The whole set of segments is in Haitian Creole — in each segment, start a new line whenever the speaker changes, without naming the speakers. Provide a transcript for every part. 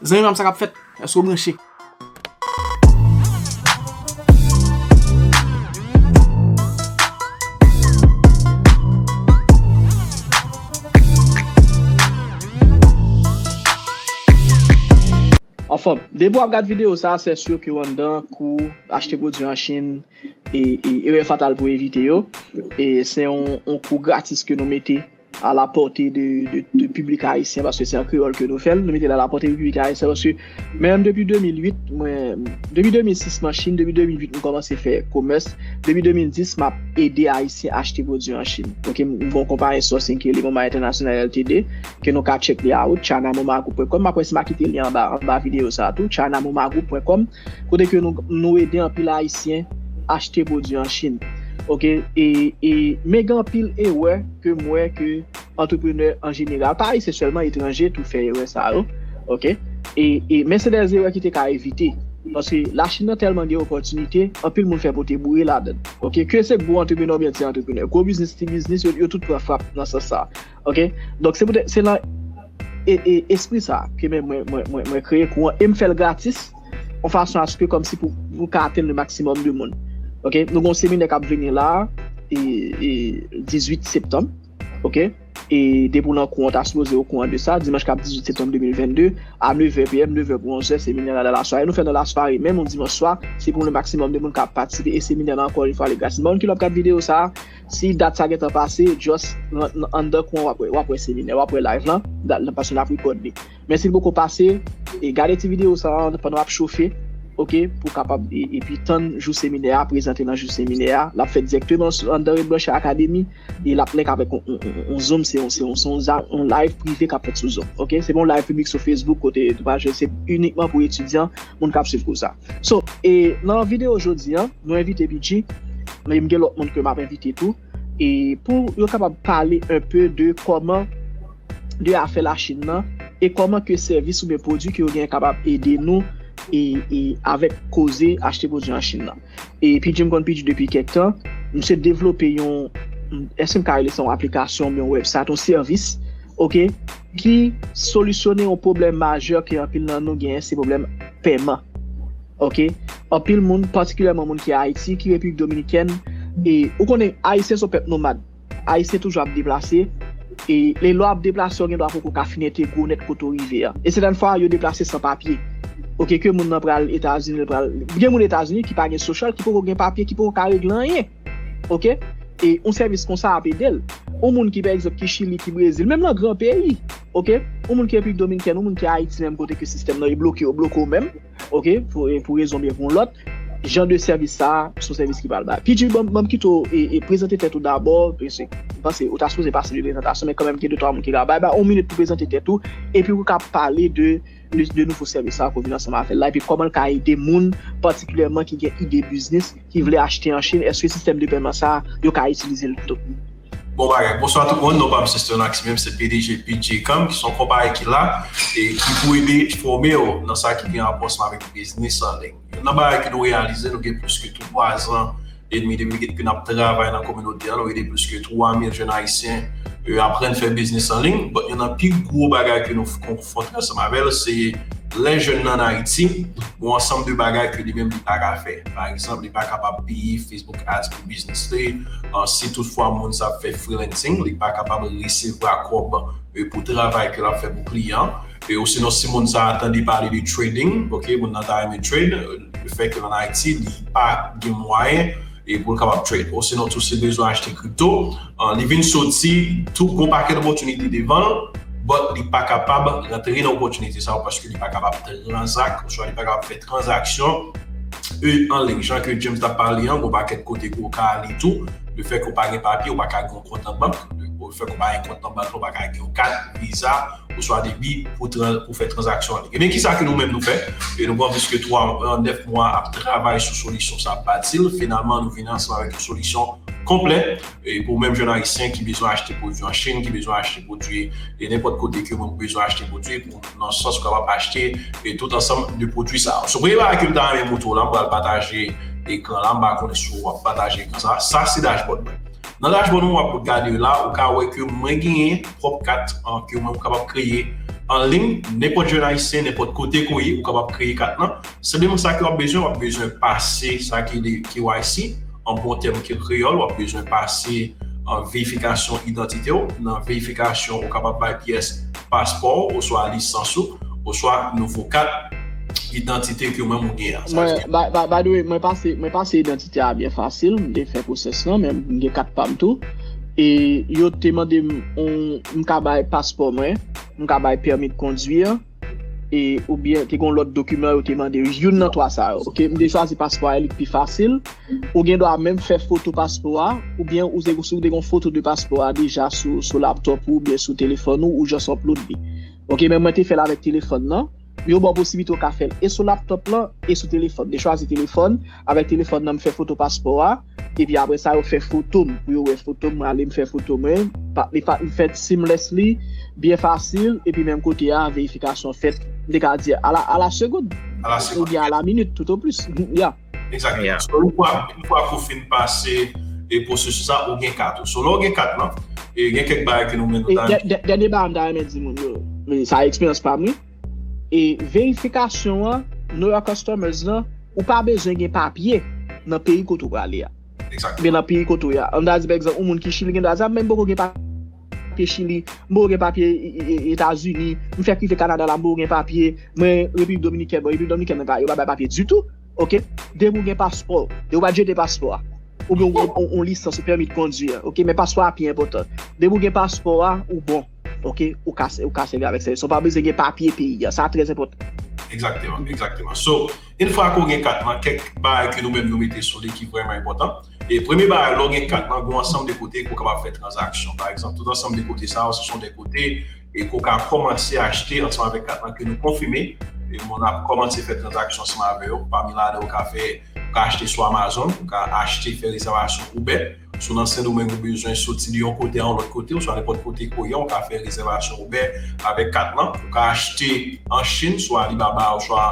Zanmi pam sa kap fèt? Eske ou branche? Anfòm, depi wap gad video sa sè sur ke ou anndan kou achte pwodwi an Chine e erè fatal pou evite yo e se yon kou gratis ke nou mete. a la pòte de piblik ayisyen paske se an kreyòl ke nou fèl, nou metel a la pòte de piblik ayisyen paske mwen menm depi 2008 mwen, depi 2006 m'an Chine, depi 2008 m kòmanse fè komès, depi 2010 m'ap ede ayisyen achte pwodwi an Chine ok, m gen yon konpayi sourcing ki rele Moma International LTD ke nou ka check li a ou, China Moma Group pwen kòm, m'ap wè si m'a kite lyen anba videyo sa a tou, China Moma Group pwen kòm. kote ke nou ede anpil ayisyen achte pwodwi an chine ok men gen anpil erè ke m wè ke antreprenè an jeneral pa ayisyen sèlman etranje tou fè erè sa yo ok men se de erè ki te ka evite paske la chine nan tèlman gen opòtinite anpil moun fè pote boure ladann ok ke se gwo antreprenè oubyen ti antreprenè gwo biznis ti biznis yo tout pran frap nan sans sa. Ok, donk se poutèt, se nan espri sa ke men mwen kreye kou an, e m fè l gratis, an fason aske kòm si pou ka atenn le maksimòm de moun. Ok, nou gon seminè kap vini la, e 18 septanm, ok, e depi w nan kou an, ta sipoze ou kou an de sa, dimanch kap 18 septanm 2022, a 9 è PM, 9 è pou 11 è, seminè nan la sware, nou fè nan la sware, menm yon dimanch swa, se pou le maksimòm de moun ka patisipe, e seminè nan ankò yon fwa li gratis. Moun ki lòk gad videyo sa. Si dat sa gentan pase, just rent anndan kwen wap wè, wap wè seminè, wap wè live lan, dat lan pase nap record li. Men sil poko pase, e gade ti video sa an pandan wap chofe, ok, pou kapab epi tann jou seminè a, prezante nan jou seminè a, lap fèt direkteman anndan Red Blanche Academy, e lap link avèk yon zoom, se yon live prive kap fèt sou zoom, ok, se pa yon live piblik sou Facebook kote, se unikman pou etidyan. moun kap swiv kou sa. So, e nan video jodi an, nou envite Bidji, men m gen lòt moun ke map envite tou, e pou yo kapab pale un peu de kòman de afè la Chine nan, e kòman ke sèvis oubyen pwodwi ke yo genyen kapab ede nou, e, e avèk koze achte pwodwi an Chine nan. E Pidji m konn Pidji depi kèk tan, misye devlope yon, èske m ka rele sa yon aplikasyon oubyen yon wèbsayt, yon sèvis, ok, Ki solisyone yon pwoblèm majè ke anpil nan nou genyen, se pwoblèm pèman. Ok, anpil moun, patikilyèman moun ki Ayiti, ki Repiblik Dominikèn, e ou konnen Ayisyen son pèp nomad. Ayisyen toujou ap deplase, e lè ou ap deplase ou gen dwa poko ka fin entegre nèt kote ou rive a. E sèten fwa yo deplase san papye. Ok, ke moun nan pral Etazini, gen moun Etazini ki pa gen sosyal, ki poko gen papye, ki poko ka regle anyen. ok e yon sèvis konsa ap edel yon moun ki pa egzanp ki chili ki brezil menm nan gran peyi ok yon moun ki repiblik dominikèn yon moun ki ayiti menm kote ke sistèm nan e bloke yo bloke w menm ok pou rezon oubyen pou yon lòt jan de sèvis sa se yon sèvis ki pral bay pidjin banm kite w e prezante tèt ou dabò mesye m panse ou ta sipoze pase yon prezantasyon men kanmèm gen de twa moun ki la bay bay yon minit pou prezante tèt ou epi pou w ka pale de Plis de nouvo sèvis sa a ko vin ansanm avè l la epi kòman l ka ede moun patikilyèman ki gen ide biznis ki vle achte an Chinn èske sistèm de pèman sa a yo ka itilize l tou. Bon bagay,
bonswa tout moun, non pam se Sternax menm se pdg Bidjecom ki son konpayi ki la e ki pou ede fòme w nan sa ki gen rapò ansanm avèk biznis an liy. Youn nan bagay ke nou reyalize, nou gen plis ke 3 zan e demi depi ke nap travay nan kominote a, nou ede plis ke 3 mil jenn ayisyen aprann fè biznis an liy, but youn nan pi gwo bagay ke nou konfwonte ansanm avè l se lè jenn nan an Ayiti, gon ansanm de bagay ke li menm li pa ka fè. Pa egzanp, li pa kapab peye Facebook Ads pou biznis li, si tout fwa moun sa ap fè freelancing, li pa kapab resevwa kòb pou travay ke lap fè pou kliyan. E osinon si moun sa tande pale de trading ok moun nan ta renmen trade le fait que l an Ayiti li pa gen mwayen e pou l kapab trade osinon tou si l bezwen achte crypto li vin soti tou gon pakèt opòtinite devan l but li pa kapab rantre nan opòtinite sa yo paske li pa kapab tranzak oswa li pa kapab fè tranzaksyon e anliy jan ke James t ap pale an gon pakèt kote ke w ka ale tou le fait ke w pa gen papye w pa ka kont nan bank, pou fè kòman yon kont nan bank lò pa ka gen yon kat, viza, ou swa debi pou fè transaksyon anlik. Ebyen ki sa ke nou menm nou fè? E nou pran pliske 3 an, 9 mwa ap travay sou solisyon sa ap bati l. Finalman nou vini ansanm avèk yon solisyon konplè pou menm jèn ayisyen ki bezwen achte pwodui an Chine, ki bezwen achte pwodui e nenpòt kote ke moun bezwen achte pwodui pou nan sans ou kapab achte e tout ansanm de pwodui sa. Sou premye bagay ke m ta renmen moutre w la, m pral pataje ekran la, m pa konnen si w ap pataje ekran sa. Sa se dashboard mwen. Nan dashboard mwen wap gade yo la ou ka wè ke mwen genyen pwòp kat ke mwen kapab kreye an liy nenpòt jèn ayisyen nenpòt kote ke w ye ou kapab kreye kat lan senpleman sa ke wap bezwen wap bezwen pase sa ki rele KYC an bon tèm ke kreyòl wap bezwen pase verifikasyon idantite w nan verifikasyon ou kapab bay pyès paspò w oswa lisans ou oswa nouvo kat idantite ke ou menm ou gen an. Sa vle di. By the way,
mwen pase, mwen pase idantite a byen fasil, m te fè pwosès lan menm, m gen kat pa m tou. E yo te mande m on, m ka bay paspò mwen, m ka bay pèmi de conduire, e oubyen te gen yon lòt dokiman yo te mande, youn nan twa sa yo. Ok, m te chwazi paspò a, li t pi fasil. Ou gen dwa menm fè foto paspò a, oubyen ou te si ou te gon foto de paspò a deja sou laptop ou oubyen sou telefòn ou, ou just upload li. Ok men mwen te fèl avèk telefòn nan, men yo baw posiblite ou ka fèl e sou laptop lan e sou telefòn. M te chwazi telefòn, avèk telefòn nan m fè foto paspò a, epi aprè sa yo fè foto m pou yo wè foto m, mwen ale m fè foto mwen, li pa li fèt seamlessly, byen fasil, epi menm kote a verifikasyon fèt, m te ka di a la segond, oubyen a la minit tout o plis, ya. Exactement.
So yon fwa, yon fwa ke w fin pase e pwosesis la, ou gen kat ou. So lè w gen kat lan, e gen kèk bagay ke nou menm nou ta renmen. Dènye bagay m ta renmen
di moun yo, men sa eksperyans pa m wi, e verifikasyon an, know your customers lan, ou pa bezwen gen papye nan peyi kote ou prale a. Exactement. Oubyen nan peyi kote ou
ye a.
An ta di pa egzanp, yon moun ki Chili gen dwa di a men m poko gen papye. Papye chili, mwen gen papye etazini, mwen fèk rive kanada la mwen gen papye, mwen repiblik dominikèn, bon repiblik dominikèn mwen pa yo pa bay papye ditou, ok, depi ou gen paspò, depi ou pa jete paspò a, ou gen yon lisans ou pèmit kondi a, ok, men paspò a pi enpòtan, depi ou gen paspò a ou bon, ok, ou ka sèvi avèk sa, ou pa bezwen gen papye peyi a, sa trè enpòtan. Egzakteman,
egzakteman, so. Yn fwa ke w gen kat lan, kèk bagay ke nou menm nou mete sou li ki vrèman enpòtan. E premye bagay, lè w gen kat lan, gen yon ansanm de kote ke w kapab fè tranzaksyon. Pa egzanp, tout ansanm de kote sa yo, se son de kote e ke w ka kòmanse achte ansanm avèk kat lan ke nou konfime. E moun ap kòmanse fè tranzaksyon ansanm avè yo. Pami ladan yo ka fè, ou ka achte sou Amazon, ou ka achte fè rezèvasyon Uber. Si w nan Sendomeng ou bezwen soti de yon kote a yon lòt kote oswa nenpòt kote ke w ye a ou ka fè rezèvasyon Uber avèk kat lan. Ou ka achte an Chinn sou Alibaba oswa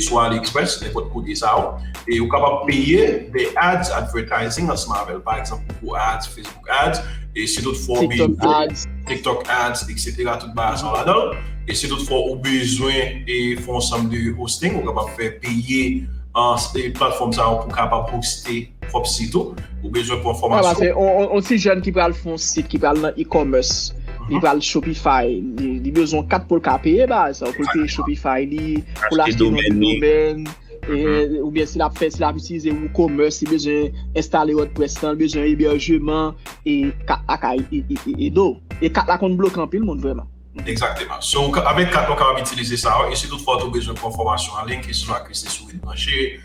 sou AliExpress nenpòt kote sa yo. E ou kapab peye de ads, advertising, ansanm avè l. Pa egzanp Google Ads, Facebook Ads e si tout fwa ou bezwen. TikTok Ads. TikTok Ads etc. Tout bagay sa yo ladan l. E si tout fwa ou bezwen e fè yon ansanm de hosting ou kapab fè peye platfòm sa yo pou kapab hoste. pwòp sit ou, ou bezwen pran fòmasyon. Sa se yon ti jèn ki
pral fon sit, ki pral nan e-commerce, li pral Shopify, li bezwen kat pou l ka peye baz, pou l peye Shopify li, pou l achte yon domèn, oubyen si l ap fè, si l ap itilize WooCommerce, li bezwen enstale WordPress lan, li bezwen eberjeman, e kat la ka ede w. E kat la konn bloke anpil moun vrèman. Egzakteman. So,
avèk kat la ou kapab itilize sa yo, e si tout fwa tou bezwen pran fòmasyon anliy, kesyon ak li se sou Edbranche,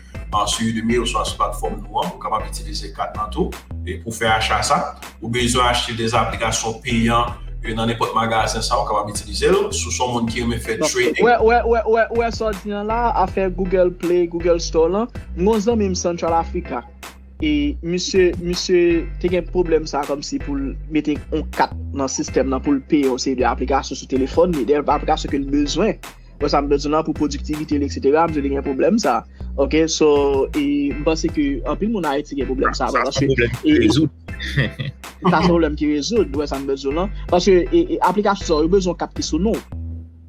Sou Udemy oswa sou platfòm nou an, ou kapab itilize kat lan tou pou fè acha sa. Ou bezwen achte de aplikasyon peyan nan nenpòt magazen sa ou kapab itilize l. Si w se yon moun ki renmen fè trading. Ou wè sa
w di an la, afè Google Play, Google Store lan. M gen yon zanmi m Central Africa. E misye, misye te gen pwoblèm sa kòmsi pou l mete yon kat nan sistèm nan pou l peye yon seri de aplikasyon sou telefòn li. Dayè aplikasyon ke l bezwen. Bon sa m bezwen lan pou pwodiktivite li etc. M di li gen pwoblèm sa. Ok so e m panse ke anpil moun Ayiti gen pwoblèm sa. Sa se yon pwoblèm ki rezoud. Sa se yon pwoblèm ki rezoud. Bon sa m bezwen lan. Paske aplikasyon sa yo bezwen kat ki sou nou.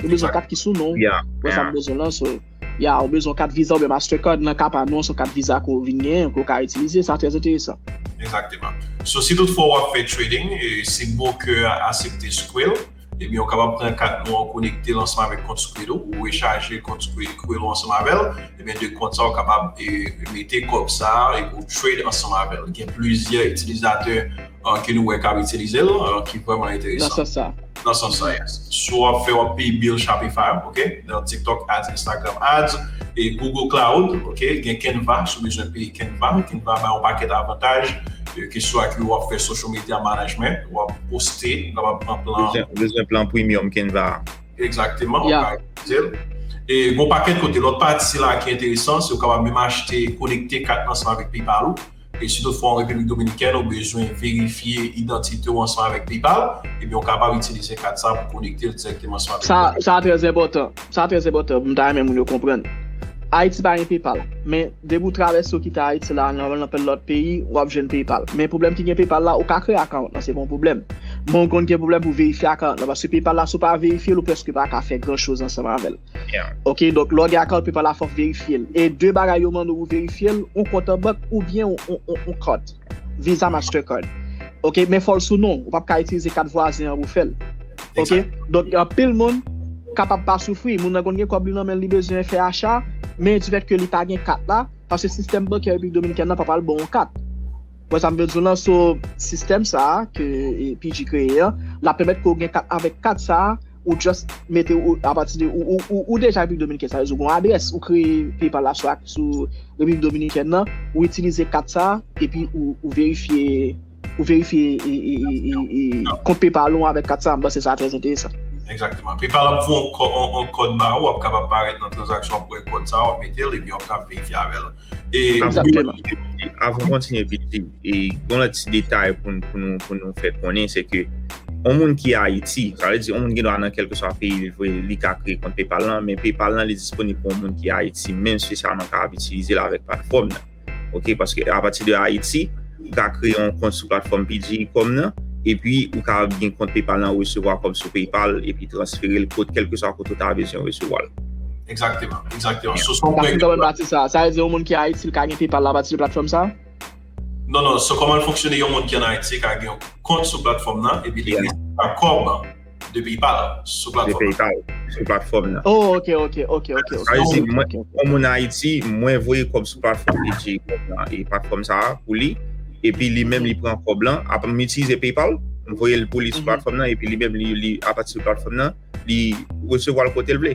Yo bezwen kat ki sou nou. Bon sa m bezwen lan so. Ya yo bezwen kat visa oube master card nan ka pa nou son kat visa ko vin gen ko ka itilize. Sa trè enteresan. Exactement.
So si tout fwa w ap fè trading e se broker a asepte skwel. Ebyen ou kapab pran kat nou an konektel ansanm avèk kont Squid ou, ou rechaje kont Squirrel ou ansanm avèl, ebyen de kont sa ou kapab mete kòb sa epi ou trade ansanm avèl. Gen plizyè itilizatè ke nou wè kap itilizel ki vrèman enteresan. Nan sans sa. Nan sans
sa yes.
Sou wap fè wap peye bill Shopify ou ok, nan TikTok ads, Instagram ads, e Google Cloud ok, gen Canva si w bezwen peye Canva, Canva bay yon pakèt avantaj ke swa ke wap fè social media management, wap poste, lè wap pran plan. Ou bezwen plan premium
Canva a. Exactement,
ou ka itilize l. E gon pakèt kote. Lòt pati la ki enteresan, se ou kapab menm achte, konekte kat lan ansanm avèk PayPal ou. E si toutfwa an Repiblik Dominikèn ou bezwen verifye idantite ou ansanm avèk PayPal, ebyen ou kapab itilize kat sa pou konekte l dirèkteman
ansanm
avèk
PayPal. Sa trè enpòtan. Sa trè enpòtan. M ta renmen moun yo
konprann.
Ayiti pa gen PayPal, men. Depi ou travèse ou kite Ayiti la nan nenpòt lòt peyi, wap jwenn PayPal. Men pwoblèm ki gen PayPal la, ou ka kreye account lan, se pa yon pwoblèm. Men ou konn gen pwoblèm pou verifye account lan, paske PayPal la si ou pa verifye l ou prèske pa ka fè gran choz ansanm avè l. Ok, donk lè w gen account PayPal la fòk verifye l. E 2 bagay yo mande w pou verifye l, yon kont an bank oubyen yon kart. Visa Mastercard. Ok, men fòl sou non. Ou pap ka itilize kat vwazen an pou fèl. Ok, donk yon pil moun kapab pa soufri. Moun nan kon gen kòb li nan men li bezwen fè acha, men di fèt ke li pa gen kat la, paske sistèm bankè Repiblik Dominikèn nan pa pral bon ou kat. Wè sa m vle di w lan? So, sistèm sa a ke PG kreye an, la pèmèt ke w gen kat avèk kat sa a. Ou just mete ou apati de ou deja Repiblik Dominiken sa vle di ou gon adrès ou kreye PayPal la sou Repiblik Dominiken nan ou itilize kat sa epi ou verifye ou verifye kont PayPal ou avèk kat sa m panse sa trè enteresan. Exactement. PayPal
ap voye yon kòd ba ou, wap kapab parèt nan transaksyon ap wè kòd sa wap metel epi wap ka verifye avèl. E
avon kontinye piti, e yon lè ti detay pou nou fè konen, se ke yon moun ki Ayiti, sa lè di yon moun ki do anan kelke swa peyi li vwe li ka kre kont Paypal lan, men Paypal lan li disponi pou yon moun ki Ayiti, men se sa man ka ap itilize la vek patfom nan. Ok, paske apati de Ayiti, ou ka kreye yon kont sou platfòm piggycom nan epi ou ka gen kont PayPal nan resevwa kòb sou PayPal epi transfere l kot kèlkeswa kote ou ta bezwen resevwa l. Egzakteman,
egzakteman. So son Pase kòman pati sa
a? Sa vle di yon moun ki Ayiti l ka gen PayPal l apati de platfòm sa a? Non non,
so kòman l fonksyone yon moun ki an Ayiti ka gen yon kont sou platfòm nan epi li resevwa kòb De peyi pa ou sou platfòm nan. De peyi pa ou sou platfòm nan. Oh
ok ok ok
ok. Sa vle di
mwen kòm moun Ayiti mwen voye kòb sou platfòm Edjay Club la e platfòm sa a pou li epi li menm li pran kòb lan ap m itilize PayPal m voye l pou li sou platfòm nan epi li menm li apati sou platfòm nan li resevwa l kote l vle.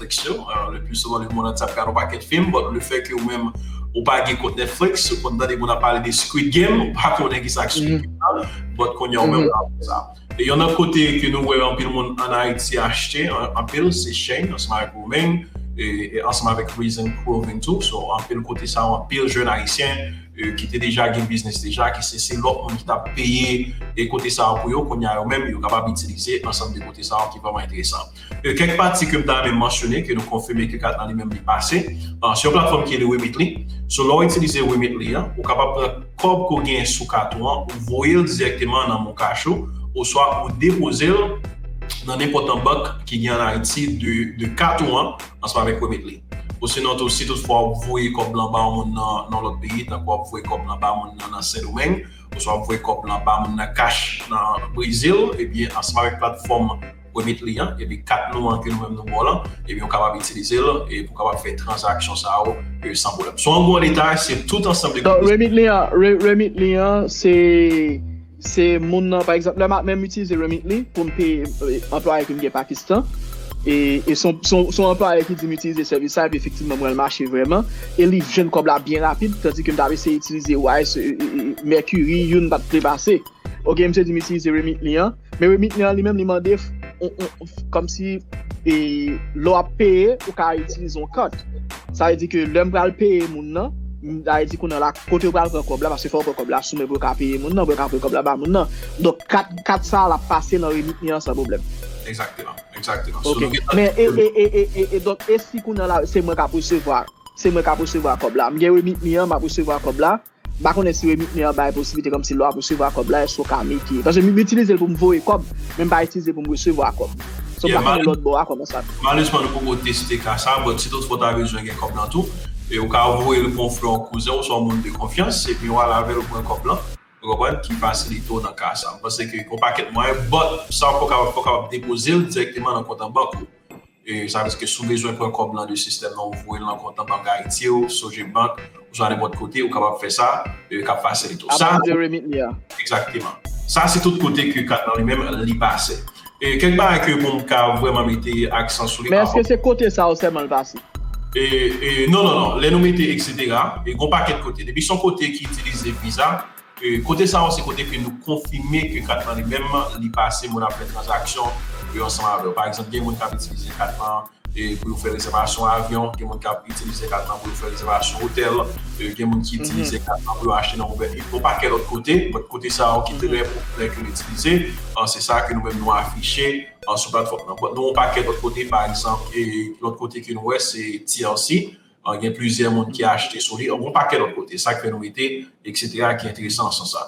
Netflix yo, le plus souvent le monde antye ap gad yon pakèt film, but le fait ke ou menm ou pa gen kont Netflix, ou konn tande moun ap pale de Squid Game, ou pa konnen kisa ak Squid Game nan, but kounya ou menm wap wè sa. E yon lòt kote ke nou wè anpil moun an Ayiti achte anpil se Shein ansanm avèk Roumain e ansanm avèk Reason Clothing tou, so anpil kote sa yo anpil jèn ayisyen ki te deja gen biznis deja ki se se lòt moun ki tap peye e kote sa yo pou yo, kounya yo menm yo kapab itilize ansanm de kote sa yo ki vrèman enteresan. E kèk pati ke m ta renmen mansyone ke nou konfime ke kat lan li menm li pase sou yon platfòm ki rele Remitly. So lè w itilize Remitly an, ou kapab pran kòb ke w genyen sou kat ou an, ou voye l dirèkteman nan moncash ou, oswa ou depoze l nan nenpòt nan bank ki gen an Ayiti de kat ou an ansanm avèk Remitly. Osinon tou, si tout fwa ou voye kòb lan ba yon moun nan yon lòt peyi, tankou wap voye kòb lan ba moun nan nan Sendomeng, oswa wap voye kòb lan ba moun nan cash nan Brezil, ebyen ansanm avèk platfòm. premye kliyan epi kat nou an ke nou menm nou ba w lan epi ou kapab itilize l pou w kapab fè tranzaksyon sa yo san pwoblèm. Sou an gwo leta se tout ansanm de. Donk Remitly an,
Remitly an se se moun nan pa egzanp lè m ap menm itilize Remitly pou m peye anplwaye ke m gen Pakistan e e son son anplwaye ki di m itilize sèvis sa epi efektivman m wè l mache vrèman e li jwenn kòb la byen rapid tandike m t ap eseye itilize wise e e Mercury youn pa t vle pase. Ok msye di m itilize Remitly an. Men remit men an li menm li mande kòm si e lò ap peye ou ka itilize yon kat. Sa vle di ke lèm pral peye moun nan, sa vle di kounè la kote ou pral pran kòb la paske fò ou pran kòb la sou men pou yo ka peye moun nan, pou yo ka pran kòb la ba moun nan. Donk kat, kat sa l ap pase nan remit men an san pwoblèm. Egzakteman,
egzakteman. Ok,
men e, e, e, e, e, e donk e si kounè la se mwen k ap resevwa, se mwen k ap resevwa kòb la, m gen remit men an m ap resevwa kòb la, M pa konnen si remit me an bay posiblite kòmsi lè wap resevwa kòb la èske w ka mete paske m itilize l pou m voye kòb men m pa itilize l pou m resevwa kòb so m pa konnen lòt bò a kòman sa Malezman nou poko
teste ka sa but si tout fwa w ta bezwen gen kòb lan tou ou ka voye l pou yon frè yon kouzen w oswa yon moun de konfyans epi w al avè l ou pran kòb lan ou konprann ki fasilite w nan ka sa m panse ke gen yon pakèt mwayen but sa w fè w kapab depoze l dirèkteman nan kont an bank ou. Sa vle di ke si w bezwen pran kòb lan de sistèm nan ou voye l nan kont nan bank Ayiti ou, Sogebank, oswa nenpòt kote, ou kapab fè sa k ap fasilite w sa. Apati de RemitMe a. Egzakteman. Sa se tout kote ke kat lan li menm li pase. Kèk bagay ke pou m ka vrèman mete aksan sou li. Men èske se kote sa
yo sèlman l pase?
Non, non, non. Lè nou mete eksetera, gen yon pakèt kote. Depi se yon kote ki itilize Visa. Kote sa yo se kote ke nou konfime ke kat lan li menm li pase moun ap fè tranzaksyon yo ansanm avè w. Pa egzanp, gen moun k ap itilize kat lan pou yo fè rezèvasyon avyon, gen moun k ap itilize kat lan pou yo fè rezèvasyon otèl, gen moun ki itilize kat lan pou yo achte nan Uber Eats, yon pakèt lòt kote. Bon, kote sa yo ki trè popilè ke nou itilize, se sa ke nou menm nou afiche sou platfòm lan. Bon, nou gen yon pakèt lòt kote, pa egzanp, lòt kote ke nou wè se TLC. Gen plizyè moun ki achte sou li. Gon pakèt lòt kote. Sa k fè nou mete eksetera ki enteresan an sans sa.